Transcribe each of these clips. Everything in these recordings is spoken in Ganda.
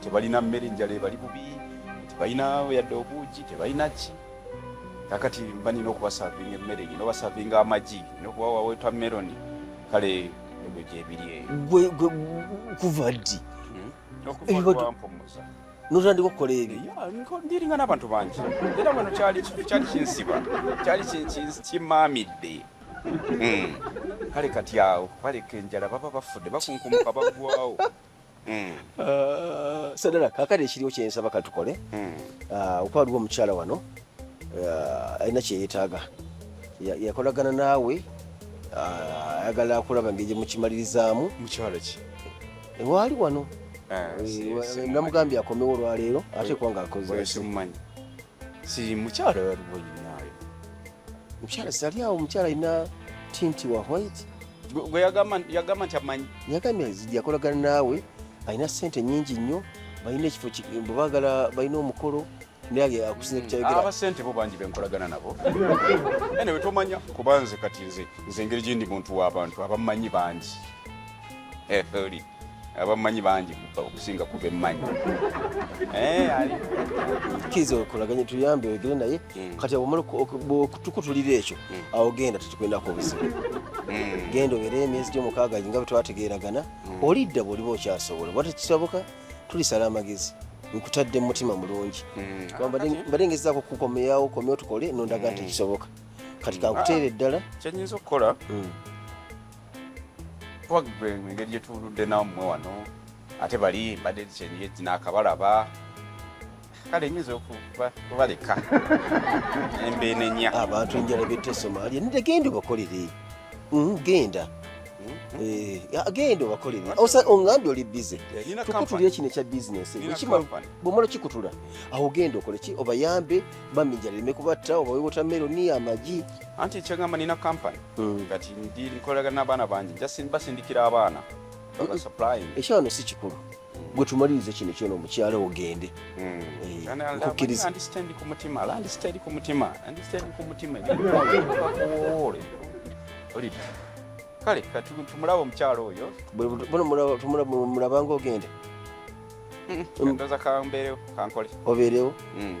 tebalina mmere enjala ebali bubi tebalina yadde obuugi tebalina ki kakati mba nina okubasavinga emmere nina obasavinga amagi nina okuwawaweta meloni kale ebyo gyebiri eyo kuva ddi notandika okukola ebyoiringa nabantu bangi era wano kyali kinsiba kyali kimaamidde hmm. kale kati awo baleka enjala baba bafudde bakunkumuka bagwawo hmm. ah, sadala kakati ekiriwo kyensaba katukole hmm. ah, okuba waliwo omukyala wano uh, alina kyeyetaaga yakolagana naawe uh, ayagala akulaba ngeri gyemukimalirizaamu mukyalo ki ewaali wano ah, eh, namugambye akomewo olwaleero ate kuba nga akozemumanyi si mukyalo waliwo yinaayo mukyala sali awo mukyala alina tinti wa white gwe yagamba nti amanyi yagambye yakolagana naawe alina sente nyingi nnyo balina ekifo bwebagala balina omukolo nange akusinze kukyayogera abasente bo bangi benkolagana nabo ene wetomanya kuba nze kati nze nze engeri gyendi muntu w'abantu abamanyi bangi eh, oli abamanyi bangi okusinga ku bemmanyi eh, kiriza okolaganye tuyambe oyogere naye hmm. kati omala okutukutulira ekyo hmm. awo genda tetukwendako obuzibu hmm. genda obeere emyezi gyomukaaga nga bwe twategeeragana olidda bw'oliba okyasobola bwata kisoboka tulisala amagezi nkutadde mutima mulungi mm. mbadde ngezaako kukukomeyawo komeo tukole nondaga nti mm. kisoboka kati mm. kankuteera eddala ah, kyenyinza okukola wagwe engeri gyetuludde namwe wano ate bali mbadde kyenye naakabalaba kale nyinza okubaleka embeenenya abantu enjala betta esomalia nide genda obakolere mm, genda mm-hmm. eh, genda obakolere ongambye oli bize eh, tukutulire kino ekya bizinesi bwomala kikutula awo genda okoleki obayambe bamijala leme kubatta obawe wotameroni amagi anti ekyagamba nina kampani mm. kati ndi nkolagana n'abaana bangi basindikira abaana ekyo wano si kikulu gwe tumalirize kino kyona omukyala ogende hmm. eh, nkukkiriza kale tumulaba omukyala oyo tumulaba nga ogende hmm, obeerewo hmm,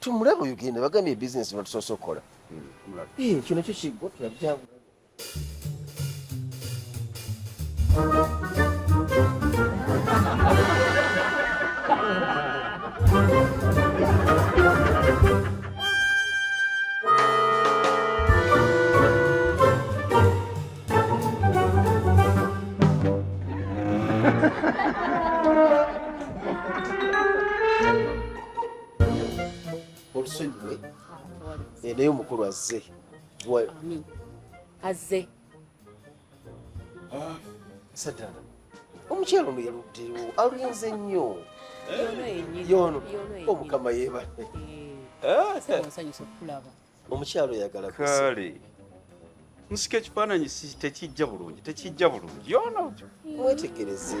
tumulaba oyo genda bagambye ebizinesi batusoose okukola hmm, kino kyo kiggwa tulabyabula olusonyiwe eh, naye omukulu azze azze ah, sadala omukyalo ono yaluddewo alinze nnyo yono omukama yebale eh? eh, omukyalo oyagala kale nsika ekifaananyi tekijja bulungi tekijja bulungi yona wetegereze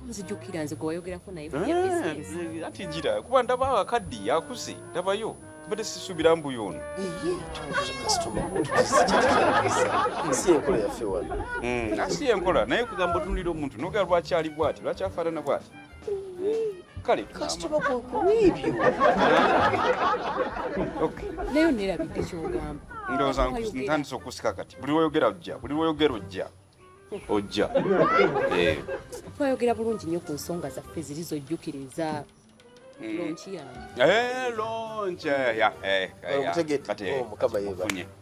nzijukira nze gwewayogerako naye eh, ati jira kuba ndaba akaddi yakuze ndabayo mbadde sisuubira mbu yono si enkola yaffe wano hmm, si enkola naye kugamba otunulira omuntu nogera lwaki ali bwati lwaki afaanana bwati kale kasitoma kubiibyo naye onerabidde kyogamba ndowooza ntandise okusika kati buli lwoyogera ojja buli lwoyogera ojja ojja eh. twayogera bulungi nnyo ku nsonga zaffe ziri zojjukiriza mm. lonki yange eh, lonki eh, kati oh, mukama yeba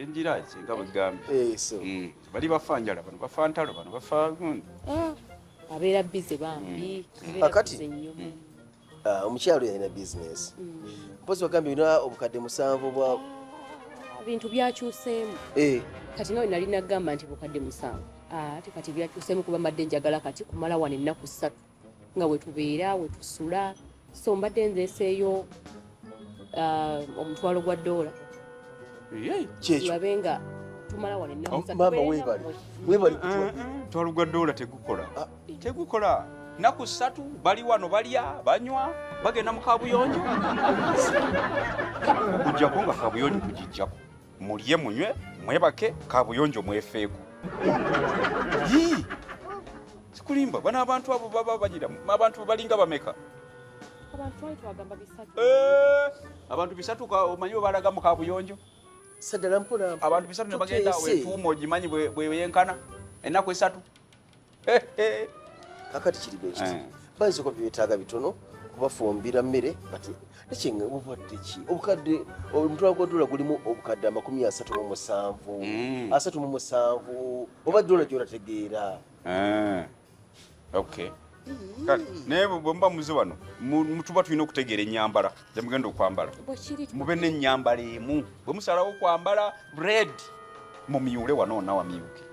enjira esinga bwegambye eh, mm. bali bafa njala bano bafa ntalo bano bafa gundi ah, abeera bize bambi mm. kakati mm. ah, omukyalo yalina bizinesi mpozi bagambye olina obukadde musanvu bwa ebintu ah, byakyuseemu eh. kati nawe nali nagamba nti bukadde musanvu ate kati byakyuseemu kuba mbadde njagala kati kumala wano ennaku ssatu nga wetubeera wetusula so mbadde nzeeseeyo uh, omutwalo gwa doola babe nga tumala wano ennakumaama oh, webali webali kutwa mm, mm, mutwalo gwa doola tegukola ah. tegukola naku satu bali wano balya banywa bagenda mu kabuyonjo kujjako nga kabuyonjo kugijjako mulye munywe mwebake kabuyonjo mwefeeko yii sikulimba bana abantu abo baba bagira abantu balinga bameka eh, abantu bisatu omanyi webalaga mu kabuyonjo abantu bisatu nebagenda wetuuma ogimanyi bweyenkana enaku esatu kakati kiri bwe kiti eh. bayiza okuba byetaaga bitono kubafumbira mmere bati nekyenga obukadde ki obukadde omutwalo gwa dola gulimu obukadde amakumi asatu mu musanvu mm. asatu mu musanvu oba dola gyonategeera eh. okay kale naye bwemuba muze wano mutuba tulina okutegeera enyambala gyemugenda okwambala mube nenyambala emu bwemusalawo okwambala red mumyule wano onawamyuke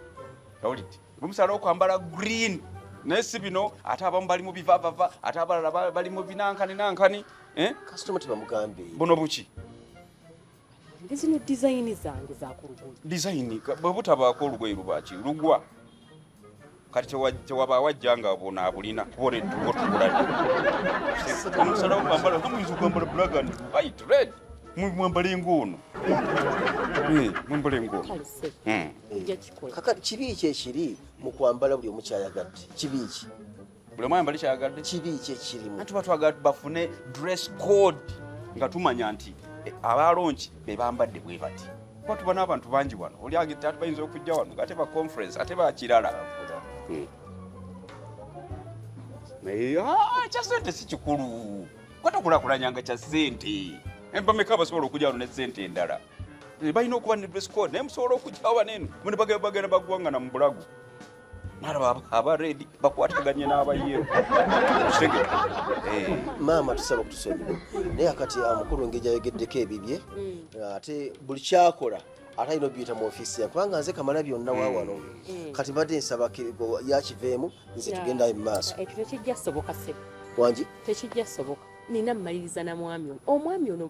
Owulidde? Bumusala okwambala green naye si bino ate abamu bali mu bivavava ate abalala bali mu binankani nankani eh? kasitoma tebamugambe buno buki zino dizayini zange zakulugulu dizayini bwebutabaako olugoye lubaki lugwa kati tewaba wajja nga bona abulina kubona entugo tugulaomusala okwambala muyinza okwambala black and white red mwambale ng'ono eh, mwambale ng'ono kaka kibi ki ekiri mu kwambala buli omu kyayagadde kibi ki buli omu ayambale kyayagadde kibi ki ekirimu tuba twagala bafune dress code nga tumanya nti eh, abaalonki be bambadde bwe bati kuba tuba n'abantu bangi wano oli agete ati bayinza okujja wano ate ba conference ate bakirala hmm. naye ah, kya sente si kikulu kwata kulakulanyanga kya sente embameka abasobola okujja wano ne sente endala Eh, balina okuba ne dress code naye musobola okugyawo banene mune bagenda bagwangana mu bulago nalaba aba redi bakwataganye n'abayero eh. maama tusaba okutusonyiwa naye akati amukulu ah, engeri gyayogeddeko ebibye mm. ah, ate buli kyakola ate alina obiyita mu ofiisi yange kubanga nze kamala byonna wa wano mm. Mm. kati mbadde nsaba yakiveemu nze tugendayo mu maaso ekyo tekijja soboka sebo wangi tekijja soboka nina mmaliriza na mwami ono omwami ono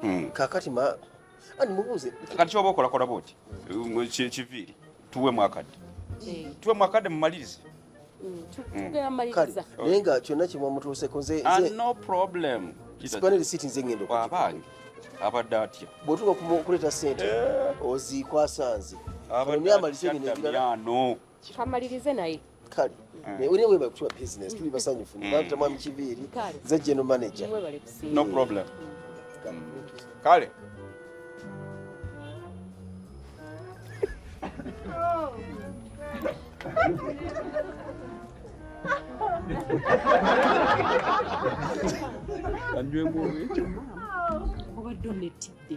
hmm. kakati ma ani mubuuze kati kyoba okolakola bwoti um, kiviiri tuwe mwakadde eh. tuwe mwakadde mumalirize hmm, hmm. naye nga kyonna kimwe mutuuseko nze ah, no problem sikwana lisiti nze ngendo abange abadde atya bwotuka kuleeta sente eh. oziikwasanze amalize bino ebirala kamalirize naye kale naye wena webale kutuwa business tuli basanyufu nibata mwami kiviiri nze general manager no problem kale anywemu obadde onetidde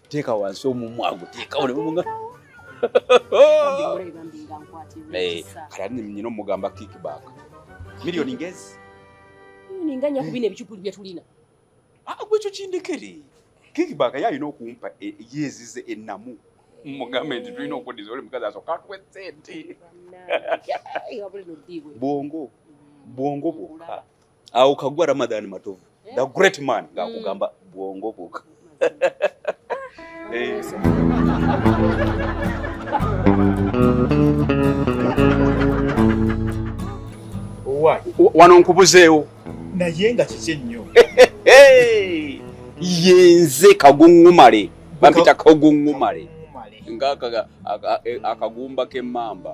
Teeka wansi omumwa gwo, teeka wano omumwa. Eh, kala ni mnyino mugamba kickback. Milioni ngezi. Milioni nganya kubine bichupuli bya tulina. Ah, gwe kyo kindekere. Kickback ya yino kumpa e, e, yezi ze enamu. Mugambe ndi tulina okudiza oli mukazi asoka tuwe sente. Bongo. Bongo boka. awo kagwa Ramadan Matovu the eh? great man mm. ngakugamba bwongo boka eh. wano nkubuzeewo naye nga kiki ennyo yenze kaguŋumale bampita kaguŋumale nga akagumba k'emmamba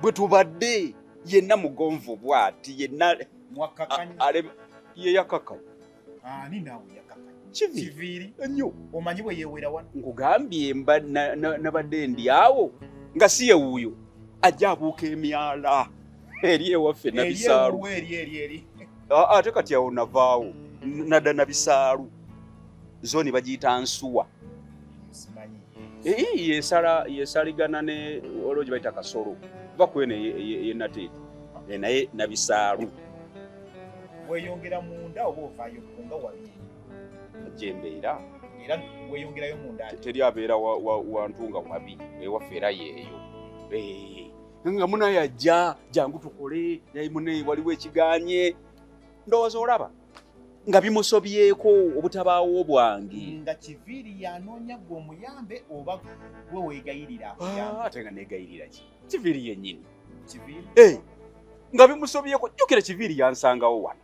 bwe tubadde yenna mugonvu bwati yenna yeyakakanya kiviiri nnyo omanyi bwe yewera wano nkugambye mba nabadde ndi awo nga si yewuuyo ajja abuuka emyala eri ewaffe nabisaalu ate kati awo navaawo nadda nabisaalu zoni bagiyita nsuwa yesala yesaligana ne olwo gye bayita kasolo kuba kweno eyenateeti e, e, naye nabisaalu weyongera munda oba ovayo kunga wabiri gyembeera era weyongerayo munda teri abeera wantu nga wabi ewaffe era yeeyo nga munaye ajja jangu tukole naye munaye waliwo ekiganye ndowooza olaba nga bimusobyeko obutabaawo bwange nga kiviiri yanoonya gwe omuyambe oba gwe wegayirira ah, ate nga negayirira ki kiviiri yenyini kiviiri eh, nga bimusobyeko jjukira kiviiri yansangawo wano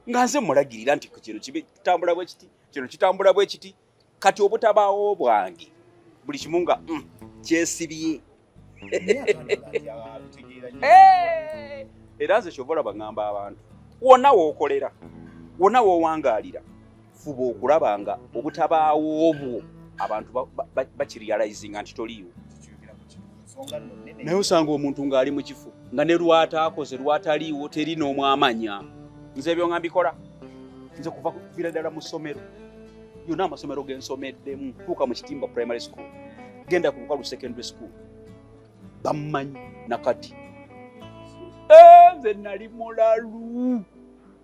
nga nze mulagirira nti kino kitambula bwe kiti kino kitambula bwe kiti kati obutabaawo bwange buli kimu nga mm, kyesibye era nze kyova olaba ŋŋamba abantu wonna wookolera wonna woowangaalira fuba okulaba nga obutabaawo obwo abantu bakirializinga nti toliiwo naye osanga omuntu ng'ali mu kifo nga ne lwataakoze lwataliiwo teri n'omwamanya nze ebyo nga mbikola nze kuva kuvira ddala mu ssomero yona amasomero gensomeddemu tuuka mu kitimba primary school genda ku bukalu secondary school bammanyi nakati eh, nze nali mulalu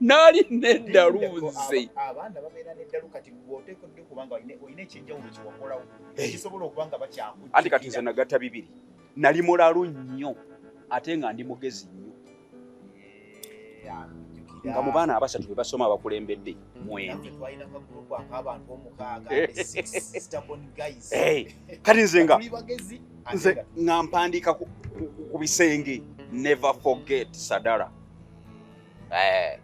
nali neddalu nze ekisobola okuba nga bakyamu anti kati nze nagatta bibiri nali mulalu nnyo ate nga ndi mugezi nnyo nga mu baana abasatu be basoma abakulembedde mwembi kati nze nga nze nga mpandiika ku bisenge never forget sadara eh.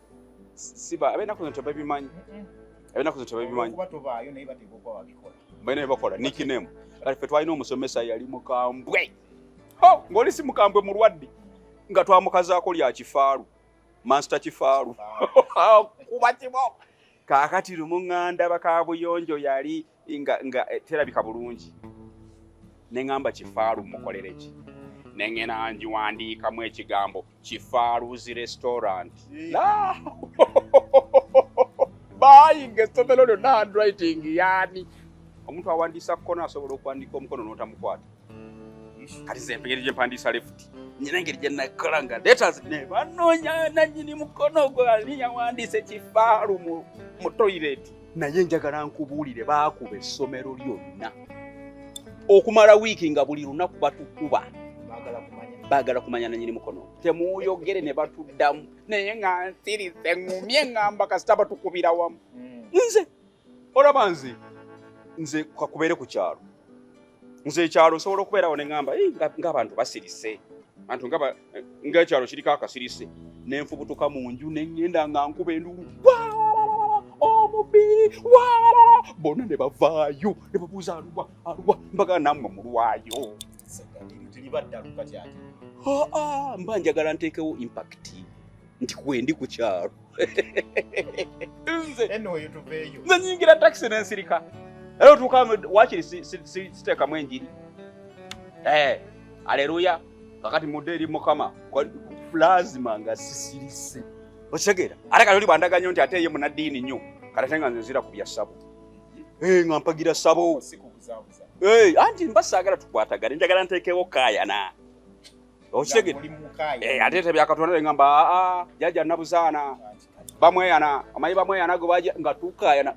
siba abena kuno tebabimanyi abena kuno tebabimanyi balina byebakola nickname kati fe twalina omusomesa yali mukambwe oh, ng'oli si mukambwe mulwadde nga twamukazaako lya kifaalu mansita kifaalu kuba kibo kakati lumu ŋŋanda bakabuyonjo yali nga nga eh, terabika bulungi ne ŋŋamba kifaalu mukolere ki ne ŋŋena ngiwandiikamu ekigambo kifaaluzi restaurant bayinga essomero lyonna handwriting yaani omuntu awandiisa kukona asobola okuwandiika omukono n'otamukwata kati zempegeri gyempandiisa lefuti nyina engeri gye nakola nga letas ne banoonya nannyini mukono ogwo ani yawandiisa ekifaalu mu toyireti naye njagala nkubuulire baakuba essomero lyonna okumala wiiki nga buli lunaku batukuba baagala kumanya nanyini mukono temuyogere ne batuddamu naye nga nsirize ngumye ngamba kasita batukubira wamu hmm. nze olaba nze nze kakubeere ku kyalo nze ekyalo nsobola okubeerawo ne ŋamba ng'abantu basirise antu ngaekyalo kiriko akasirise nenfubutuka mu nju neŋenda nga nkuba enduulu omubiri bona ne bavaayo ne babuuza aluwa aluwa mbaga nammwe mulwayo mba njagala nteekewo impakiti nti kwendi ku kyalo nze nyingira takisi nensirika era otuuka wakiri siteekamu enjiri eh, aleluya kakati mudde eri mukama lazima nga sisirise okitegeera ate kati oli bwandaga nyo nti ate ye munaddiini nnyo kati ate nga nze nzira ku bya sabo eh, nga mpagira sabo eh, anti mba saagala tukwatagane njagala nteekewo kaayana okitegedde eh, ate tebyakatonda ngamba aa ah, ah, jaja nabuzaana bamweyana amanyi bamweyana gwe baja nga tukayana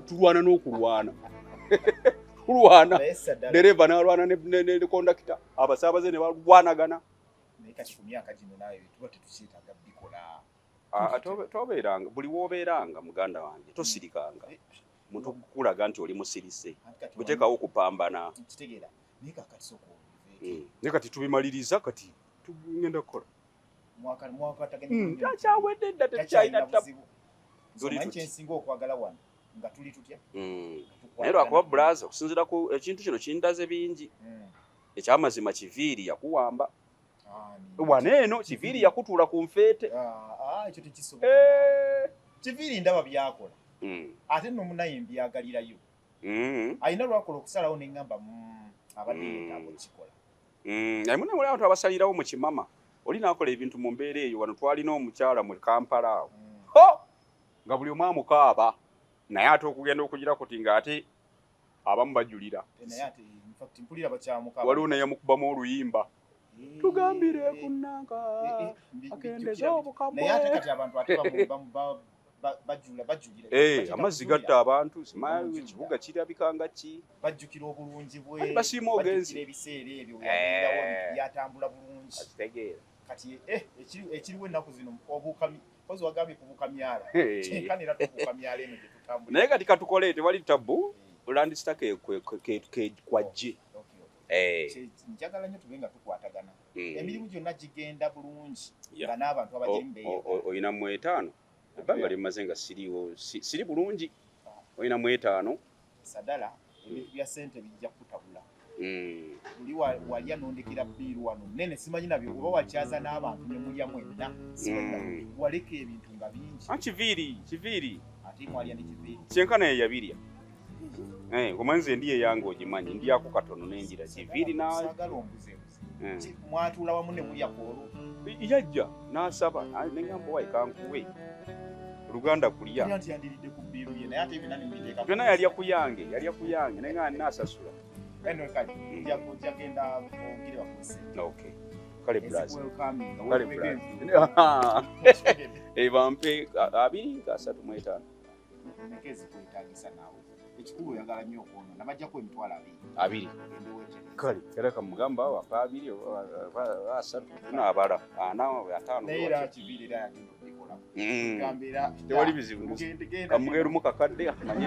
tulwana n'okulwana kulwana dereva nalwana ne kondakita abasaabaze ne balwanagana ah, tobeeranga buli wobeeranga muganda wange tosirikanga eh, muntu kukulaga nti oli musirise butekawo okupambana hmm. ne kati tubimaliriza kati tugenda kukola hmm, takyawedde dda tekyalina hmm. naye lwakuba bulaza okusinzira ku ekintu kino kindaze bingi ekyamazima kiviiri yakuwamba wana eno kiviiri yakutuula ku nfeete ah, ah, eh. kiviiri ndaba byakola ate nomunaye mbyagalirayo Mm. alina lwakola okusalawo neŋamba mm, abadde mm. yetaaga okukikola naye muna wali abantu abasalirawo mu kimama oli nakola ebintu mu mbeera eyo wano twalina omukyala mu kampala awo ho nga buli omu amukaaba naye ate okugenda okugira kuti nga ate abamu bajulira waliwo naye amukubamu oluyimba tugambire ku nanka akendeze obukabweamazzi gatta abantu ekibuga kirabika nga ki bajjukira obulungi bwebasiima ogenzi ebiseera ebyo byatambula bulungi kitegeera kati eh, ekiriwo ennaku zino obukami kozi wagambye kubukamyala kyenkanira tubukamyala eno gyetutambula naye kati katukole tewali tabbu eh. olandisita kwajje Eh. njagala nyo tube nga tukwatagana hmm. emirimu gyonna gigenda bulungi nga n'abantu abagirimubeolina mu etaano ebbanga lyemmaze nga siriwo siri bulungi ah. olina mu etaano sadala ebintu bya sente bijja kutabula hmm. oli walya nondekera biiru wano nene simanyi nabyo oba wakyaza n'abantu nemulya mwenna hmm. waleka ebintu nga bingi ah, kiviiri kiviiri ate mwalya ne kiviiri kyenkana yeyabirya Eh, omanze ndiye yange ogimanyi ndiyako katono nenjira kiviri mwatula wamu nemulya kwolwo yajja nasaba neŋamba wayi kankuwe luganda kulya byona yalya ku yange yalya ku yange naye nga nasasula bampe abiri nga asatu mwetaano Emeka ezikwetaagisa naawe. Ekikulu oyagala nnyo okwonoona. Bajjako emitwalo abiri. Abiri. Kale era kamugamba wapa abiri asatu n'abala ana ataano. Naye era kibiri era yagenda okubikola. Mm. Gamba era. Tewali bizibu. Kamugenda omu kakadde amanyi.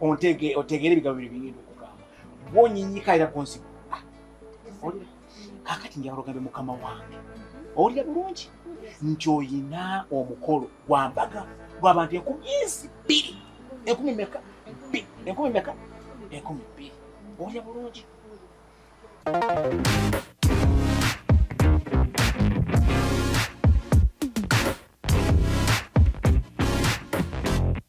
ontege otegere ebigambo bino bigenda okugamba bwonyinyika era bwonsiba ah, kakati njagala ogambe mukama wange owulira bulungi nti oyina omukolo gwa mbaga gwabantu enkumi ensi bbiri enkumi meka enkumi meka enkumi bbiri owulira bulungi